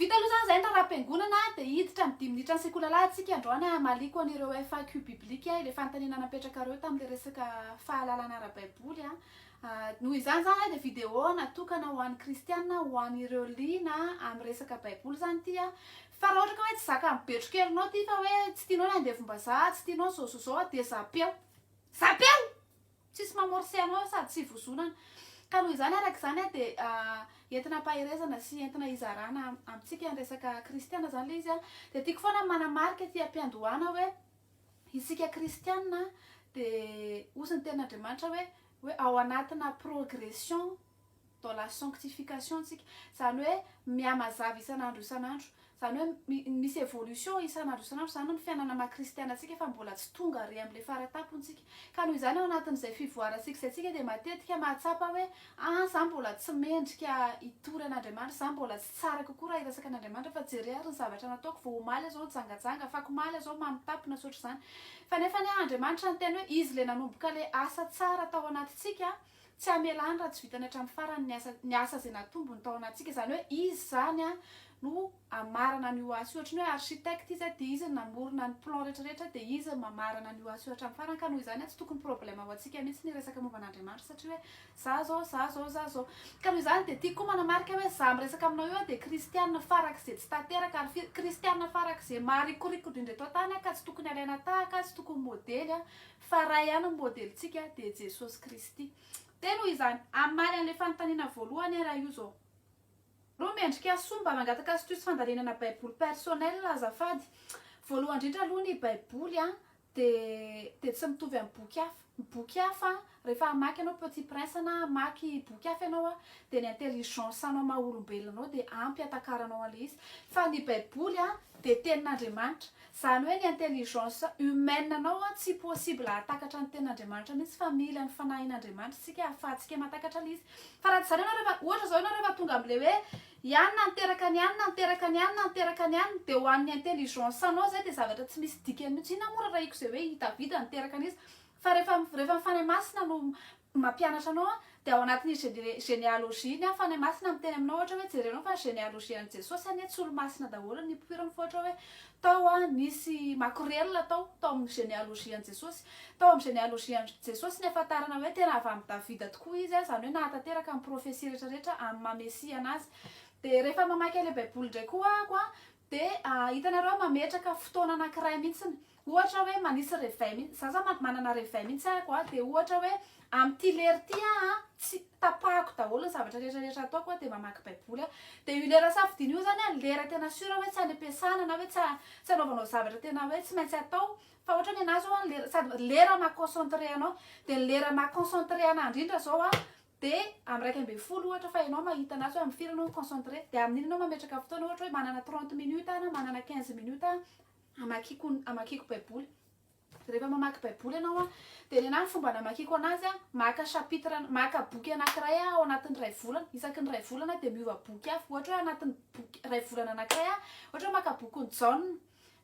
Vita aloha izany izay ny raharaham-piangonana dia hiditra amin'ny dimy minitra ny sekoly alahatsika androany hamaliako an'ireo FAQ biblique ilay fanontaniana napetrakareo tamin'ilay resaka fahalalana ara-baiboly a noho izany izany ilay dia video natokana ho an'ny kristiana ho an'ireo liana amin'ny resaka baiboly izany ity a fa raha ohatra ka hoe tsy zakan'ny betrokerinao ity fa hoe tsy tianao ny andevombazaha tsy tianao izao izao izao dia zapeo zapeo Tsisy mamorse anao sady tsy ivozonana. Ka noho izany araka izany dia entina ampaherezana sy entina hizarana amintsika ny resaka kristiana izany ilay izy. Dia tiako foana ny manamarika ety am-piandohana hoe isika kristiana dia hoy ny tenin'Andriamanitra hoe hoe ao anatina progression dans la sanctification tsika zany hoe mihamazava isan'andro isan'andro zany hoe misy evolution isan'andro isan'andro zany ny fiainana maha kristiana antsika fa mbola tsy tonga ary amin'ilay fara-tampontsika ka noho izany ao anatin'izay fivoarantsika izay tsika dia matetika mahatsapa hoe ah za mbola tsy mendrika hitory an'Andriamanitra za mbola tsy tsara kokoa raha hiresaka an'Andriamanitra fa jere ary ny zavatra nataoko vao omaly aho zao nijangajanga afaka omaly aho zao mamitapy na tsy ohatr'izany fa nefa anie Andriamanitra niteny hoe izy ilay nanomboka ilay asa tsara tao anatintsika Tsy hamelany raha tsy vitany hatramin'ny farany ny asa ny asa izay natombony tao anatintsika. Izany hoe izy izany no hamarana an'io asa io. Ohatry ny hoe architecte izy dia izy no namorona ny plan rehetra rehetra dia izy no mamarana an'io asa io hatramin'ny farany. Ka noho izany tsy tokony problème ho antsika mihitsy ny resaka momba an'Andriamanitra satria hoe za izao, za izao, za izao. Ka noho izany dia tiako koa manamarika hoe za miresaka aminao io aho dia kristiana farak'izay tsy tanteraka ary firy kristiana farak'izay maharikoriko indrindra eto an-tany aho ka tsy tokony alaina tahaka, tsy tokony modely an! Fa Ray ihany no modelintsika dia Jesosy Kristy. Dia noho izany, hamaly an'ilay fanontaniana voalohany aho raha io izao. Roa, Mendrika soa mba mangataka astuce fandalinana Baiboly personnel azafady. Voalohany indrindra aloha ny Baiboly dia dia tsy mitovy amin'ny boky hafa. Ny boky hafa rehefa hamaky ianao Petit Prince na hamaky boky hafa ianao dia ny intelligence anao maha olombelona anao dia ampy hatakaranao an'ilay izy. Fa ny Baiboly dia tenin'Andriamanitra, izany hoe ny intelligence humaine anao an tsy possible hahatakatra ny tenin'Andriamanitra mihitsy fa mila ny fanahin'Andriamanitra isika ahafahantsika mahatakatra ilay izy fa raha tsy izany ianao rehefa ohatra izao ianao rehefa tonga amin'ilay hoe ianona ny teraka ny anona ny teraka ny anona ny teraka ny anona dia ho an'ny intelligence anao izay dia zavatra tsy misy dikany mihitsy inona moa rarahiko izay hoe i Davida niteraka an'iza fa rehefa rehefa ny Fanahy Masina no Ny mampianatra anao an, dia ao anatin'ny gene genealogie-ny an, Fanahy Masina miteny aminao ohatra hoe jereo anao fa ny genealogie an'i Jesosy anie tsy olo-masina daholo ny mpoiriny fa ohatra hoe tao an, nisy makorelina tao, tao amin'ny genealogie an'i Jesosy. Tao amin'ny genealogie an'i Jesosy ny ahafantarana hoe tena avy amin'i Davida tokoa izy an, izany hoe nahatanteraka ny profesia rehetra rehetra amin'ny maha Mesia anazy. Dia rehefa mamaky an'ilay Baiboly indray koa aho an, Dia hitanareo mametraka fotoana anankiray mihitsiny. Ohatra hoe manisy réveil mihitsy. Za za manana réveil mihitsy aiko a. Dia ohatra hoe amin'ity lera ity aho tsy tapahako daholo ny zavatra rehetra rehetra ataoko aho dia mamaky baiboly aho. Dia io lera safidiana io zany a lera tena sûr hoe tsy any am-piasana na hoe tsy tsy anaovanao zavatra tena hoe tsy maintsy atao fa ohatra hoe ny anahy zao a ny lera sady lera maha concentré anao. Dia ny lera maha concentré anahy indrindra zao a Dia amin'ny iraika ambin'ny folo ohatra fa ianao mahita anazy hoe amin'ny firy ianao mi-concentrer, dia amin'iny ianao mametraka fotoana ohatra hoe manana trente minutes aho na manana quinze minutes aho hamakiako hamakiako baiboly. Rehefa mamaky baiboly ianao dia ny anahy ny fomba namakiako anazy a, maka chapitre maka boky anankiray aho ao anatin'ny iray volana, isaky ny iray volana dia miova boky hafa. Ohatra hoe anatin'ny boky iray volana anankiray aho ohatra hoe maka bokin'i Jaona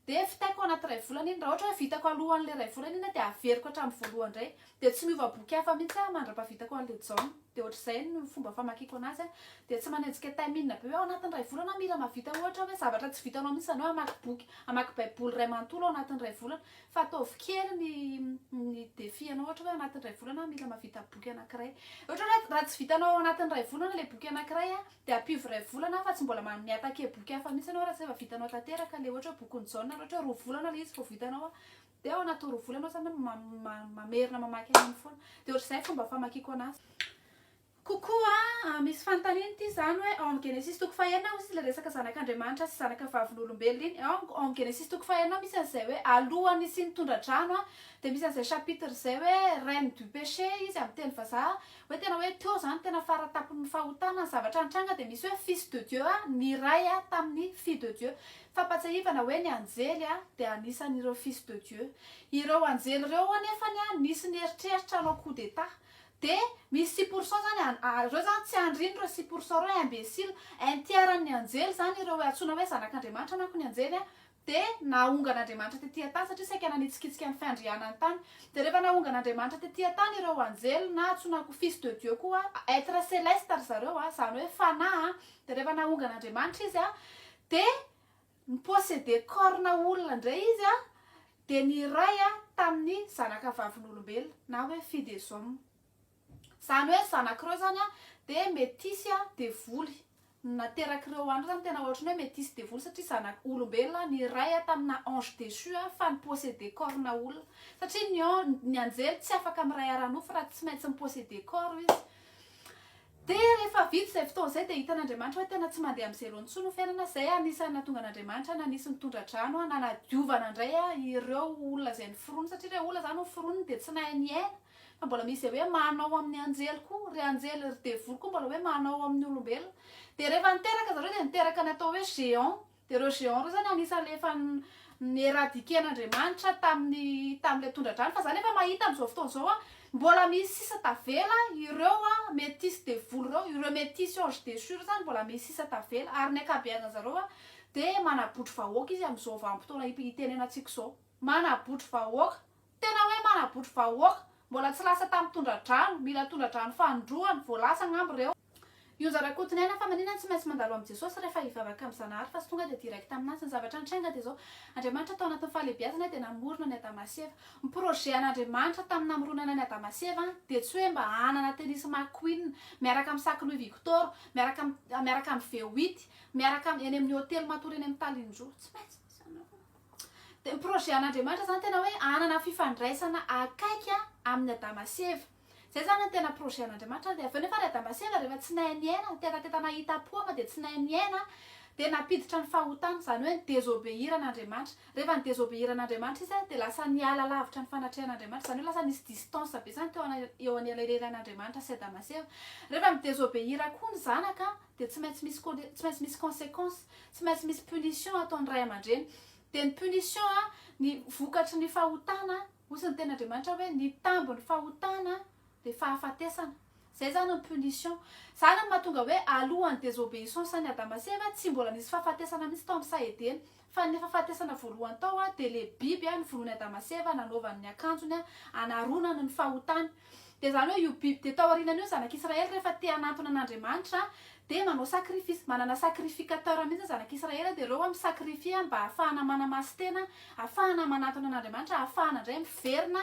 Dia vitaiko anaty iray volana iny. Raha ohatra hoe vitako alohan'ilay iray volana iny dia averiko hatramin'ny voalohany indray. Dia tsy miova boky hafa mihitsy aho mandra-pahavitako an'ilay Jaona. Dia ohatr'izay no fomba famakiako anazy. Dia tsy manenjika time inona be hoe ao anatin'ny iray volana aho mila mahavita ohatra hoe zavatra tsy vitanao mihitsy izany hoe hamaky boky, hamaky baiboly iray manontolo ao anatin'ny iray volana. Fa ataovy kely ny ny défi anao ohatra hoe anatin'ny iray volana aho mila mahavita boky anankiray. Ohatra hoe raha tsy vitanao ao anatin'ny iray volana ilay boky anankiray, Dia ampivo iray volana fa tsy mbola manome attaquer boky hafa mihitsy ianao raha tsy efa vitanao tanteraka ilay ohatra hoe bokin'i Jaona ary ohatra hoe roa volana ilay izy vao vitanao an! dia ao anatin'ny roa volana aho izany mamerina mamaky an'iny foana. Dia ohatr'izay fomba famakiako anazy. Kokoa an, misy fanontaniana ity izany hoe ao amin'ny Genesisy toko fahenina misy ilay resaka zanak'Andriamanitra sy zanaka vavolombelona iny, ao amin'ny Genesisy toko fahenina misy an'izay hoe alohan'ny hisian'ny tondra-drano an, dia misy an'izay chapitre izay hoe reine du péché izy amin'ny teny vazaha, Hoe tena hoe teo izany tena fara tampon'ny fahotana ny zavatra nitranga dia misy hoe fils de Dieu niray tamin'ny fille de Dieu. Fampatsiahivana hoe ny anjely dia anisan'ireo fils de Dieu. Ireo anjely ireo anefany nisy nieritreritra hanao coup d'état. Dia misy six pour cent izany ireo izany tsy andriny ireo six pour cent ireo imbécile. Intierran'ny anjely izany ireo antsoina hoe zanak'Andriamanitra manko ny anjely Dia nahonga an'Andriamanitra tetỳ an-tany, satria saika nanitsikitsika ny fiandrianany tany. Dia rehefa nahonga an'Andriamanitra tetỳ an-tany ireo anjely, na antsoina ko fils de Dieu koa, être céleste ry zareo, izany hoe fanahy, dia rehefa nahonga an'Andriamanitra izy, dia ni-posséder corps-na olona indray izy, dia niray tamin'ny zanakavavin'olombelona, na hoe filles des hommes. Zany hoe zanak'ireo zany an dia metisy an devoly naterak'ireo andro zany tena ohatrany hoe metisy devoly satria zanak olombelona ny ray an tamina ange deçu an fa nipossede corps na olona satria ny ange ny anjely tsy afaka miray ara nofo raha tsy maintsy mipossede corps izy dia rehefa vita izay fotoana izay dia hitan'Andriamanitra hoe tena tsy mandeha amin'ny zero intsony ny fiainana izay anisan'ny nahatonga an'Andriamanitra nanisy ny tondra-drano an nanadiovana indray an ireo olona izay niforona satria ilay olona zany niforona dia tsy nahay niaina Fa mbola misy izay hoe manao amin'ny anjely koa, ry anjely, ry devoly koa mbola hoe manao amin'ny olombelona. Dia rehefa niteraka zareo dia niteraka ny atao hoe géant. Dia ireo géant ireo izany anisan'ilay efa n-éradiquer-n'Andriamanitra tamin'ny tamin'ilay tondra-drano. Fa za nefa mahita amin'izao fotoana izao a, mbola misy sisa tavela ireo métis devoly ireo, ireo métis anges déchus ireo izany mbola misy sisa tavela. Ary ny ankabeazan'i zareo a, dia manabotry vahoaka izy amin'izao vanim-potoana itenenantsika izao. Manabotry vahoaka. Tena hoe manabotry vahoaka, mbola tsy lasa tamin'ny tondradrano, mila tondradrano fanindroany, voalasa angamba ireo. Ionja Rakotonena fa maninona tsy maintsy mandalo amin'i Jesosy rehefa hivavaka amin'i Zanahary fa tsy tonga dia direct aminazy, ny zavatra nitranga dia izao, Andriamanitra tao anatin'ny fahalebiazana dia namorona an'i Adama sy Eva, ny projet an'Andriamanitra tamin'ny namoronana an'i Adama sy Eva dia tsy hoe mba hanana tennis McQueen miaraka amin'ny sac Louis Victor, miaraka miaraka amin'ny V8, miaraka eny amin'ny hotely matory eny amin'ny Talinjo, tsy maintsy misy an'ireo. Dia ny projet an'Andriamanitra izany tena hoe hanana fifandraisana akaiky amin'ny Adama sy Eva. Izay izany no tena projet an'Andriamanitra. Dia avy eo nefa ry Adama sy Eva rehefa tsy nahay niaina, nitetateta nahitam-po ama dia tsy nahay niaina, dia nampiditra ny fahotana, izany hoe ny désobéir an'Andriamanitra. Rehefa ni-désobéir an'Andriamanitra izy dia lasa niala lavitra ny fanatrehan'Andriamanitra, izany hoe lasa nisy distance be izany teo eo anelanelan'Andriamanitra sy Adama sy Eva. Rehefa mi-désobéir koa ny zanaka dia tsy maintsy misy tsy maintsy misy consequence tsy maintsy misy punition ataon'ny ray aman-dreny dia ny punition a ny vokatry ny fahotana hozy ny ten'Andriamanitra hoe ny tambin'ny fahotana dia fahafatesana zay zany ny punition zany no mahatonga hoe alohan'ny désobéissance an'i Adama sy Eva tsy mbola nisy fahafatesana mihitsy tao amin'ny saha Edena Fa ny fahafatesana voalohany tao dia le biby noforonin'i Adama sy Eva nanaovany ny akanjony hanaronany ny fahotany. Dia izany hoe io biby dia tao aorianany io ny zanak'Israely rehefa te hanantona an'Andriamanitra dia manao sacrifice. Manana sacrificateur mihitsy ny zanak'Israely dia ireo mi-sacrifier mba hahafahana manamasin-tena, hahafahana manantona an'Andriamanitra, hahafahana indray miverina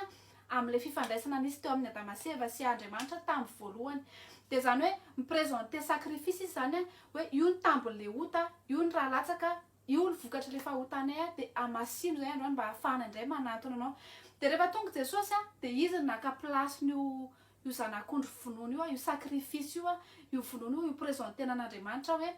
amin'ilay fifandraisana nisy teo amin'ny Adama sy Eva sy Andriamanitra tamin'ny voalohany. Dia izany hoe mi-presenter sacrifice izy izany hoe io ny tambin'ilay ota, io ny rà latsaka, io ny vokatr'ilay fahotanay dia hamasino izay androany mba hahafahana indray manantona anao. Dia rehefa tonga Jesosy dia izy no naka place-n'io io zanak'ondry vonoina io, io sacrifice io, io vonoina io, io presenter-na an'Andriamanitra hoe.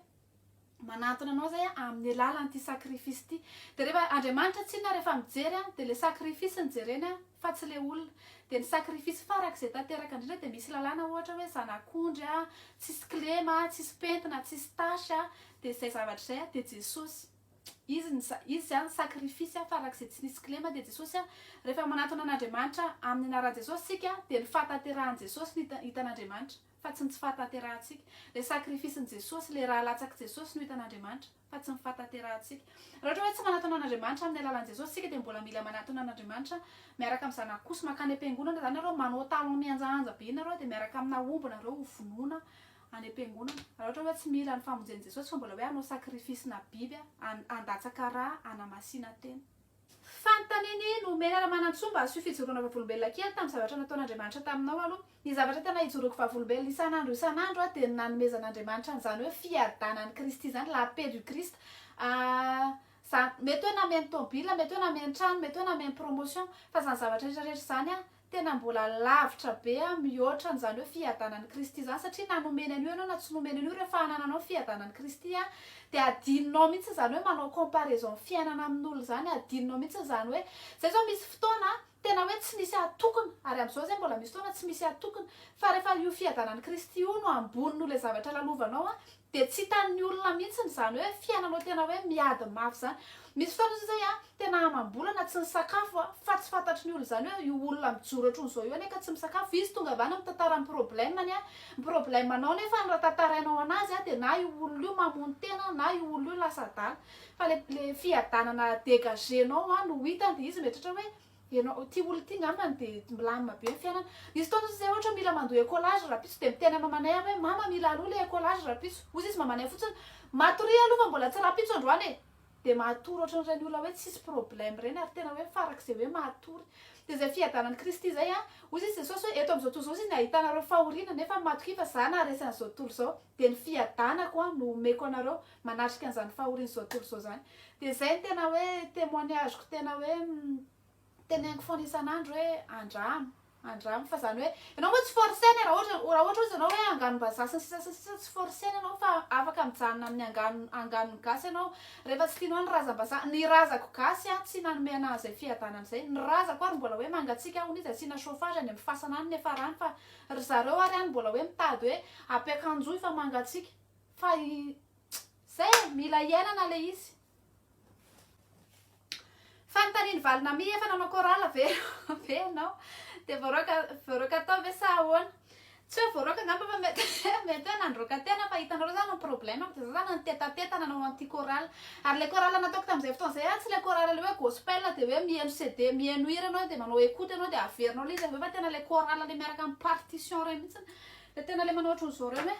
manantona anao zay amin'ny alalan'ity sacrifice ity de rehefa Andriamanitra tsinona rehefa mijery a de le sacrifice no jereny a fa tsy le olona de ny sacrifice farak'izay tanteraka indrindra de misy lalàna ohatra hoe zanak'ondry a tsisy kilema a tsisy pentina tsisy tache a de zay zavatra zay a de Jesosy izy ny izy zany sacrifice a farak'izay tsy nisy kilema de Jesosy a rehefa manantona an'Andriamanitra amin'ny anaran'i Jesosy sika de ny fahatanterahan'i Jesosy ny hitan'Andriamanitra fa tsy ny tsy fahatanterahantsika. Ilay sakrifisin'i Jesosy, ilay ra latsak'i Jesosy no hitan'Andriamanitra, fa tsy ny fahatanterahantsika. Raha ohatra hoe tsy manatona an'Andriamanitra amin'ny alalan'i Jesosy isika dia mbola mila manatona an'Andriamanitra miaraka amin'ny Zanany kosa. Mankany am-piangonana izany nareo, manao talons mihanjahanja be nareo dia miaraka amina omby nareo ho vonoina any am-piangonana. Raha ohatra hoe tsy mila ny famonjen'i Jesosy fa mbola hoe hanao sakrifisina biby, handatsaka ra, hanamasina tena. Fantany anie ny omena raha manan-tsoa mba asio fijoroana vavolombelona kely tamin'ny zavatra nataon'Andriamanitra taminao aloha. Ny zavatra tena ijoroako vavolombelona isan'andro isan'andro aho dia ny nanomezan'Andriamanitra an'izany hoe fiadanan'i Kristy izany, la paix du Christ. Ahh. Izany. Mety hoe nameno tômôbila, mety hoe nameno trano, mety hoe nameno promotion, fa izany zavatra rehetra rehetra izany aho Tena mbola lavitra be a, mihoatra an'izany hoe fiadanan'i Kristy izany, satria na nomeny an'io ianao na tsy nomeny an'io, rehefa hanananao ny fiadanan'i Kristy a, dia adinonao mihitsy izany hoe manao comparaison ny fiainana amin'olona izany, adinonao mihitsy izany hoe, izay izao misy fotoana tena hoe tsy misy hatokona, ary amin'izao izay mbola misy fotoana tsy misy hatokona, fa rehefa io fiadanan'i Kristy io no ambony noho ilay zavatra lalovanao a, Dia tsy hitan'ny olona mihitsy izany hoe fiainanao tena hoe miady mafy izany. Misy fotoana izao izay tena amam-bolana tsy nisakafo fa tsy fantatry ny olona izany hoe io olona mijoro hatron'izao io anie ka tsy misakafo. Izy tonga avy any mitantara ny problème-ny, ny problème-nao nefa raha tantarainao an'azy dia na io olona io mamono tena na io olona io lasa adala. Fa ilay fiadanana à dégager-nao no ho hitany dia izy mieritreritra hoe Ianao ty olona ty ngambany dia milamina be ny fiainana. Nisy fotoana hozy zay ohatra mila mandoa écolage rahampitso dia miteny amin'ny mamanay aho hoe mama mila aloha le écolage rahampitso. Hozy izy mamanay fotsiny matoria aloha fa mbola tsy rahampitso androany e! Dia matory ohatran'ireny olona hoe tsisy problème ireny ary tena hoe farak'izay hoe matory. Dia izay fiadanan'i Kristy izay an! Hozy izy Jesosy hoe eto amin'izao tontolo izao izy no ahitanareo fahoriana nefa matokia fa za naharesy an'izao tontolo izao dia ny fiadanako an no omeko anareo. manatrika an'izany fahorian'ny zao tontolo izao izany dia izay no tena hoe témoignage-ko tena hoe teneniko foana isan'andro hoe andramo andramo fa izany hoe ianao moa tsy forcer-na e, raha ohatra raha ohatra ozy ianao hoe anganom-bazaha sy ny sisa sy ny sisa tsy forcer-na ianao fa afaka mijanona amin'ny angano anganon'ny gasy ianao rehefa tsy tianao ny razam-bazaha ny razako gasy an tsy nanome anah an'izay fiadanana izay ny razako ary mbola hoe mangatsiaka hono izy asiana chauffage any amin'ny fasana any nefa rano fa ry zareo ary any mbola hoe mitady hoe ampiakanjoy fa mangatsiaka Fa izay e, mila iainana ilay izy. Fanontanian'i Valinamia, efa nanao chorale ve ve ianao? Dia voaroaka voaroaka tao ve sa ahoana? Tsy hoe voaroaka angamba fa mety mety hoe nandroaka tena fa hitanareo izany ny problème-ko dia izao izany nitetateta nanao anti chorale. Ary ilay chorale nataoko tamin'izay fotoana izay tsy ilay chorale ilay hoe gospel dia hoe mihaino CD, mihaino hira ianao dia manao écoute ianao dia averinao ilay izy avy eo fa tena ilay chorale ilay miaraka amin'ny partition ireny mihitsy. Dia tena ilay manao ohatran'izao ireny hoe.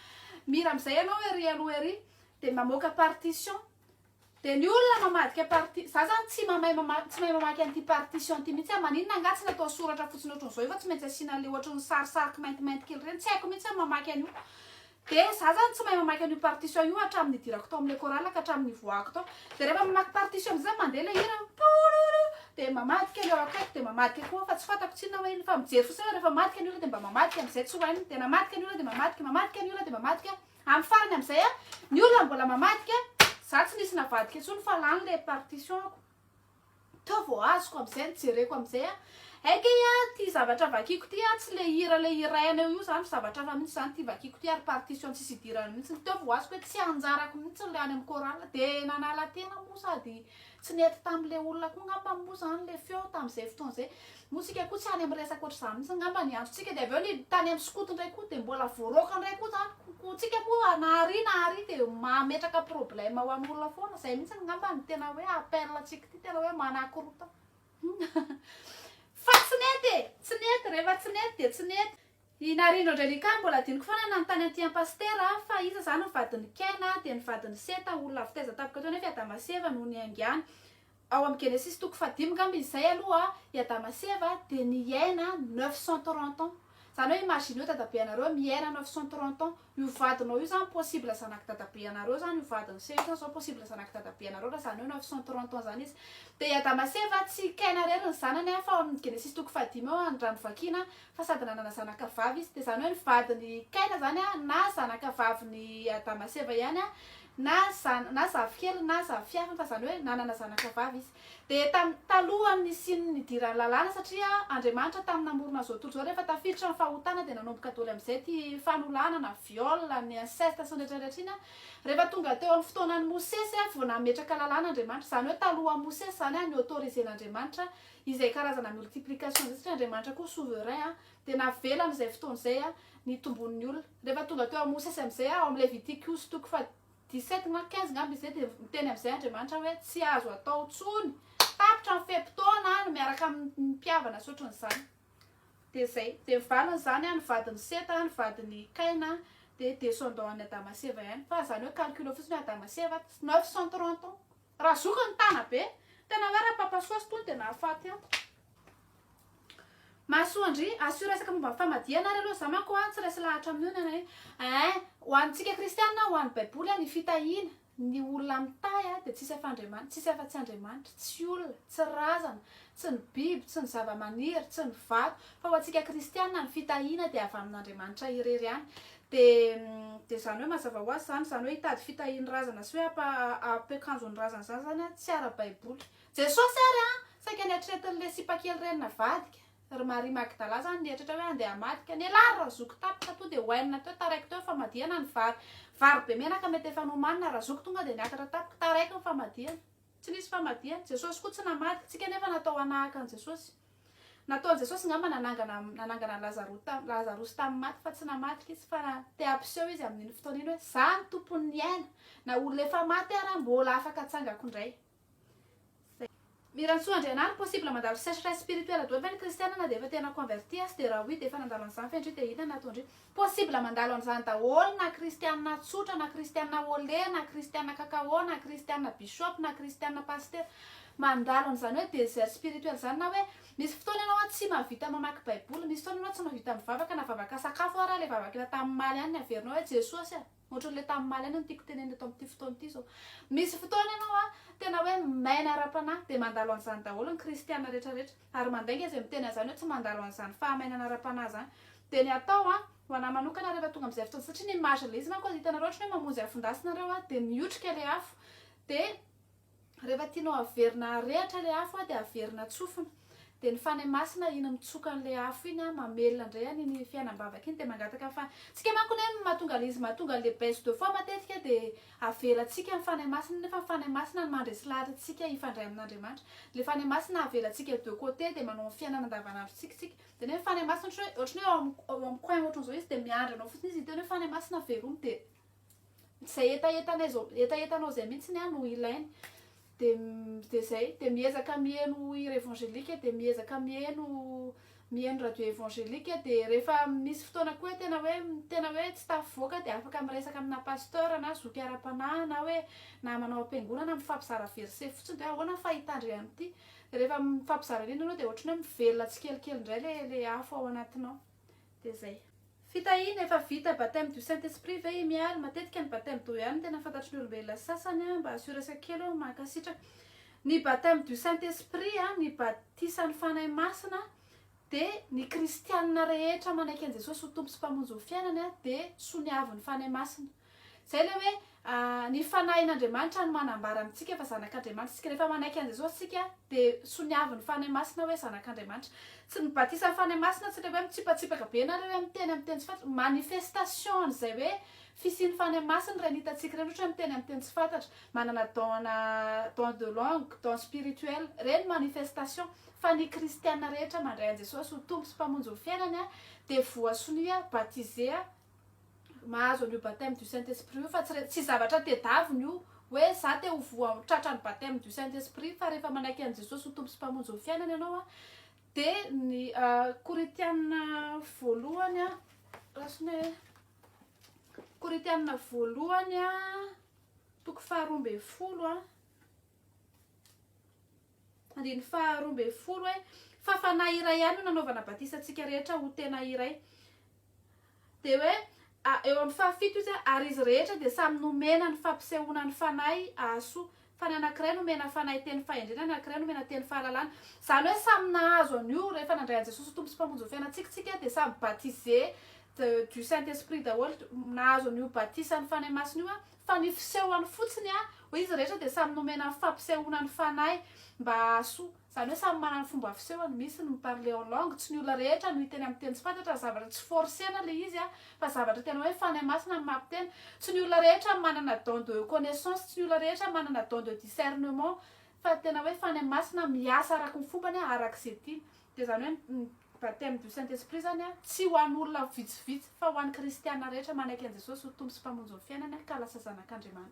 Mira amizay ianao ery aloha ery de mamoaka partition de ny olona mamadika parti za zany tsy mamay mama- tsy mahay mamaky an'ity partition ty mihitsy aho maninona angaha tsy natao soratra fotsiny ohatran'izao io fa tsy maintsy asiana an'le ohatran'ny sarisary kimaintimainty kely ireny tsy haiko mihitsy aho ny mamaky an'io de za zany tsy mahay mamaky an'io partition io hatramin'ny nidirako tao amin'le chorale ka hatramin'ny nivoahako tao de rehefa mamaky partition amizay zany mandeha le hira pororo Dia mamadika ny eo akaiky dia mamadika koa aho fa tsy fantako tsinona hoe inona fa mijery fotsiny aho rehefa mamadika ny olona dia mba mamadika amin'izay tsy ho hainy dia namadika ny olona dia mamadika mamadika ny olona dia mamadika amin'ny farany amin'izay a ny olona mbola mamadika za tsy nisy navadika intsony fa lany le partition-ko teo vao azoko amin'izay ny jereko amin'izay a aika a ty zavatra vakiko ty a tsy le hira le hiraina eo io zany fa zavatra hafa mihitsy zany ty vakiko ty ary partition tsisy idirany mihitsy ny teo vao azoko hoe tsy anjarako mihitsy ny le any amin'ny chorale dia nanala tena moa sady Tsy nety tamin'ilay olona koa ngamba moa izany ilay feo tamin'izay fotoana izay. Moa isika koa tsy any amin'ny resaka ohatr'izany mihitsy ngamba ny androntsika. Dia avy eo ny tany amin'ny skoto indray koa dia mbola voaroaka indray koa izany. Koa antsika moa na àry na àry dia mametraka problème ho an'olona foana. Izay mihitsy ngamba no tena hoe appel antsika ity, tena hoe manakorontana. Fa tsy nety e! Tsy nety, rehefa tsy nety dia tsy nety. I Narindo Angelica mbola adinoko foana nanontany an'ity an'i Pasitera aho fa iza izany ny vadin'i Kena dia ny vadin'i Seta, olona avy taiza tampoka teo nefa i Adama sy Eva no niaingàny. Ao amin'ny Genesisy toko fahadimy angamba izay aloha i Adama sy Eva dia niaina neuf cent trente ans. Izany hoe imagineo dadabeanareo miaina neuf cent trente ans. Io vadinao io zany possible zanak'i dadabe anareo zany io vadin'i se io zany zao possible zanak'i dadabe anareo raha zany hoe neuf cent trente ans zany izy de i adama sy eva tsy kaina rery ny zanany an fa ao amin'ny genesisy toko fahadimy eo an raha ny vakiana an fa sady nanana zanaka vavy izy de zany hoe ny vadin'i kaina zany an na zanaka vavin'i adama sy eva ihany an na zan- na zafikeliny na zafiafiny fa zany hoe nanana zanaka vavy izy Dia tamin'ny talohan'ny nisian'ny nidiran'ny lalàna, satria Andriamanitra tamin'ny namorona izao tontolo izao, rehefa tafiditra ny fahotana dia nanomboka doly amin'izay ity fanolanana, viol, ny inceste sy ny rehetra rehetra iny, rehefa tonga teo amin'ny fotoanan'i Mosesy vao nametraka lalàna Andriamanitra, izany hoe talohan'i Mosesy izany ni autoriser n'Andriamanitra izay karazana multiplication izay, satria Andriamanitra koa souverain, dia navela amin'izay fotoana izay nitomboan'ny olona, rehefa tonga teo amin'i Mosesy amin'izay ao amin'ny Levitikousy toko faha. 17 na 15 ngamba izay dia miteny amin'izay Andriamanitra hoe tsy azo atao intsony tapitra ny fe-potoana any miaraka amin'ny mpihavana sy ohatran'izany dia izay dia ny valin'izany any vadin'ny seta any vadin'ny kaina dia descendant any Adama sy Eva ihany fa izany hoe calcul fotsiny Adama sy Eva 930 ans Raha zoky ny tana be. Tena hoe raha papa soa sy tony dia nahafaty an. Mahasoa ndry. Asio resaka momba ny famadihana ary aloha za manko an tsy resy lahatra amin'io ny anay eh. Ho antsika kristiana an ho an'ny baiboly an ny fitahiana ny olona mitahy an dia tsisy afa Andriamanitra tsisy afa tsy Andriamanitra tsy olona tsy razana tsy ny biby tsy ny zavamaniry tsy ny vato fa ho antsika kristiana ny fitahiana dia avy amin'Andriamanitra irery ihany Dia izany hoe mazava ho azy izany, izany hoe hitady fitahian'ny razana sy hoe hampiakanjo ny razana izany izany an, tsy ara-baiboly. Jesosy ary an, saika niatretin'ilay sipakely reny navadika. Ry Maria Magdala izany nieritreritra hoe handeha hamadika, nialà ry Razoko tapitra toa dia oainina teo, taraiky teo ny famadihana ny vary. Vary be menaka mety efa nomanina, Razoko tonga dia niakatra tampoka, taraiky ny famadihana. Tsy nisy famadihana. Jesosy koa tsy namadika. Tsika nefa natao hanahaka an'i Jesosy. Nataon'i Jesosy ngamba nanangana nanangana an'i Lazaro tam Lazarosy tamin'ny maty fa tsy namadika izy fa na te hampiseho izy amin'iny fotoana iny hoe za no tompon'ny aina na olona efa maty ara mbola afaka atsangako ndray. Mirantsoa Andrianary possible mandalo sécheresse spirituelle doany ve ny kristiana na dia efa tena converti aza dia raha oui dia efa nandalo an'izany fendry dia inona no nataondry. Possible mandalo an'izany daholo na kristianina tsotra na kristianina au lait na kristianina cacao na kristianina bishop na kristianina pasitera. Mandalo an'izany hoe désert spirituel izany na hoe misy fotoana ianao an tsy mahavita mamaky baiboly, misy fotoana ianao tsy mahavita mivavaka na vavaka sakafo ary ilay vavaka efa tamin'omaly ihany ny averinao hoe Jesosy a! Ohatran'ilay tamin'ny mahalaina no tiako tenenina eto amin'ity fotoana ity izao. Misy fotoana ianao an, tena hoe maina ara-panahy, dia mandalo an'izany daholo ny kristiana rehetrarehetra. Ary mandainga izay miteny an'izany hoe tsy mandalo an'izany fahamainana ara-panahy izany. Dia ny atao an, ho an'ahy manokana rehefa tonga amin'izay fotoana izay, satria ny images ilay izy manko aza hitanareo ohatran'ny hoe mamonjy afon-dasy nareo an, dia miotrika ilay afo, dia. Rehefa tianao haverina harehatra ilay afo an, dia averina tsofina. Dia ny Fanahy Masina iny mitsoka an'ilay afo iny an, mamelona indray an iny fiainam-bavaka iny dia mangataka ny Fanahy. Tsika manko anie mahatonga ilay izy mahatonga ilay baisse de foi matetika dia avelantsika ny Fanahy Masina nefa ny Fanahy Masina no mandresy lahatra antsika hifandray amin'Andriamanitra. Ilay Fanahy Masina avelantsika de côté dia manao ny fiainana andavanandrontsika tsika. Dia nefa ny Fanahy Masina ohatran'ny hoe eo amin'ny coin ohatran'izao izy dia miandry anao fotsiny izy hiteny hoe Fanahy Masina veloma dia. izay hetahetanay zao hetahetanao zay mihitsy ny ahy no ilainy de de zay de miezaka miheno hira évangélique de miezaka miheno miheno radio évangélique de rehefa misy fotoana koa tena hoe tena hoe tsy tafivoaka de afaka miresaka amina pasteur na zoky ara-panahy na hoe na manao am-piangonana mifampizara verset fotsiny de hoe ahoana ny fahitandry an'ity de rehefa mifampizara an'iny ianao de ohatran'ny hoe mivelona tsikelikely indray le le afo ao anatinao Dia zay. Fitahiana, efa vita baptême du saint esprit ve i Miary? Matetika ny baptême d'eau ihany no tena fantatry ny olombelona sasany an, mba assuresako kely aho, mankasitraka. Ny baptême du saint esprit an, ny batisan'ny Fanahy Masina dia ny kristianina rehetra manaiky an'i Jesosy ho Tompo sy Mpamonjy ny fiainany dia soniavin'ny Fanahy Masina. Izay ilay hoe ny Fanahin'Andriamanitra no manambara amintsika fa zanak'Andriamanitra isika. Rehefa manaiky an'i Jesosy isika dia soniavin'ny Fanahy Masina hoe zanak'Andriamanitra. Tsy ny batisan'ny Fanahy Masina, tsy ilay hoe mitsipatsipaka be na ilay hoe miteny amin'ny teny tsy fantatra. Manifestation an'izay hoe fisian'ny Fanahy Masina ireny hitantsika ireny ohatra hoe miteny amin'ny teny tsy fantatra, manana don-na don de langue, don spirituel. Ireny manifestation. Fa ny kristiana rehetra mandray an'i Jesosy ho Tompo sy Mpamonjy ny fiainany dia voasonia, batiser, mahazo an'io baptême du saint esprit io fa tsy re- tsy zavatra tedaviny io hoe za te ho voa tratra ny baptême du saint esprit fa rehefa manaiky an'i jesosy ho tompo sy mpamonjy ny fiainana ianao a de ny ah, korintianina voalohany a rasiny hoe korintianina voalohany a toko faharoa ambin'ny folo a Andininy faharoa ambin'ny folo hoe, Fa Fanahy iray ihany no nanaovana batisa antsika rehetra ho tena iray. Dia hoe, eo amin'ny fahafito izy, Ary izy rehetra dia samy nomena ny fampisehoana ny Fanahy hahasoa. Fa ny anankiray nomena Fanahy teny fahendrena, ny anankiray nomena teny fahalalana. Izany hoe samy nahazo an'io rehefa nandray an'i Jesosy ho Tompo sy Mpamonjy ny fiainantsika isika dia samy baptisé du Saint-Esprit daholo, nahazo an'io batisan'ny Fanahy Masina io Fa ny fisehony fotsiny a, hoe izy rehetra dia samy nomena ny fampisehoana ny fanahy mba hahasoa. Izany hoe samy manana ny fomba fisehony, misy ny mi-parler en langue, tsy ny olona rehetra no hiteny amin'ny teny tsy fantatra, ny zavatra tsy forcer-na ilay izy a, fa zavatra tena hoe Fanahy Masina no mampiteny, tsy ny olona rehetra manana don de connaissance, tsy ny olona rehetra manana don de discernement, fa tena hoe Fanahy Masina miasa araka ny fombany a, araka izay tiany, dia izany hoe Baptême du Saint Esprit izany tsy ho an'olona vitsivitsy fa ho an'ny kristiana rehetra manaiky an'i Jesosy ho Tompo sy Mpamonjy ny fiainany ka lasa zanak'Andriamanitra.